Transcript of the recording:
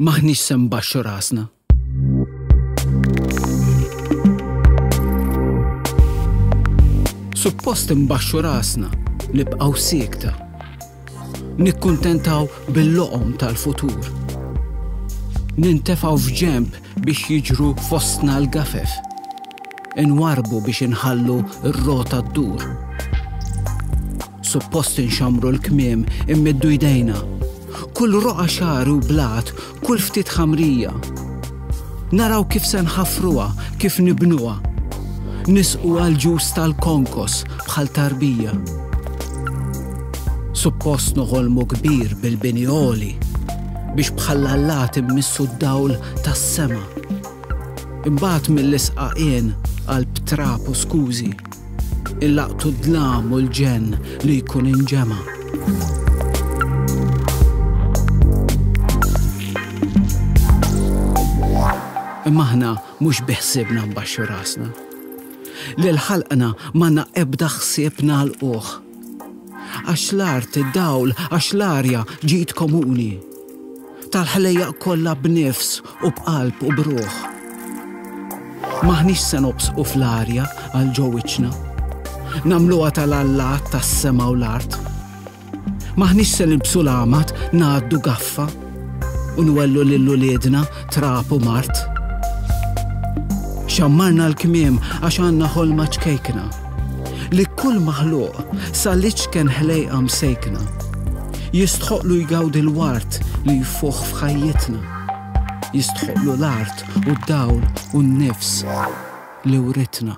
M'aħniex se nbaxxu rasna. Suppost imbaxxu rasna, nibqgħu siekta. Nikkuntentaw bil-loqom tal-futur. Nintefaw f'ġemp biex jiġru fostna l-gafef. Inwarbu biex inħallu r-rota d-dur. Suppost inxammru l-kmiem, immiddu jdejna. Kull roqa xagħar u blat, kull ftit ħamrija. Naraw kif se nħaffruha, kif nibnuha. Nisqu għal ġus tal-konkos bħal tarbija. Suppost noħolmu kbir bil-bini oli biex bħal allat immissu d-dawl tas-sema. Imbagħad mill-isqaqien għal btrap u skużi. Illaqtu d-dlam u l-ġenn li jkun inġema'. Imma aħna mhux biħsibna nbaxxu rasna. Lil ħalqna manna ebda ħsieb nagħlquh. Għax l-art, id-dawl, għax l-arja ġid komuni. Tal-ħlejjaq kollha b'nifs u b'qalb u b'ruħ. M'aħniex se nobsqu fl-arja għal ġo wiċċna. Nagħmluha tal-allat tas-sema u l-art. M'aħniex se nilbsu l-għamad ngħaddu gaffa u nwellu lil uliedna trab u mart. Xammarna l-kmiem għax għandna ħolma ċkejkna. li kull maħluq sa l-iċken ħlejqa msejkna jistħoqlu jgawdi l-wart li jfuħ f'ħajjitna. Jistħoqlu l-art u d-dawl u n-nifs li uritna.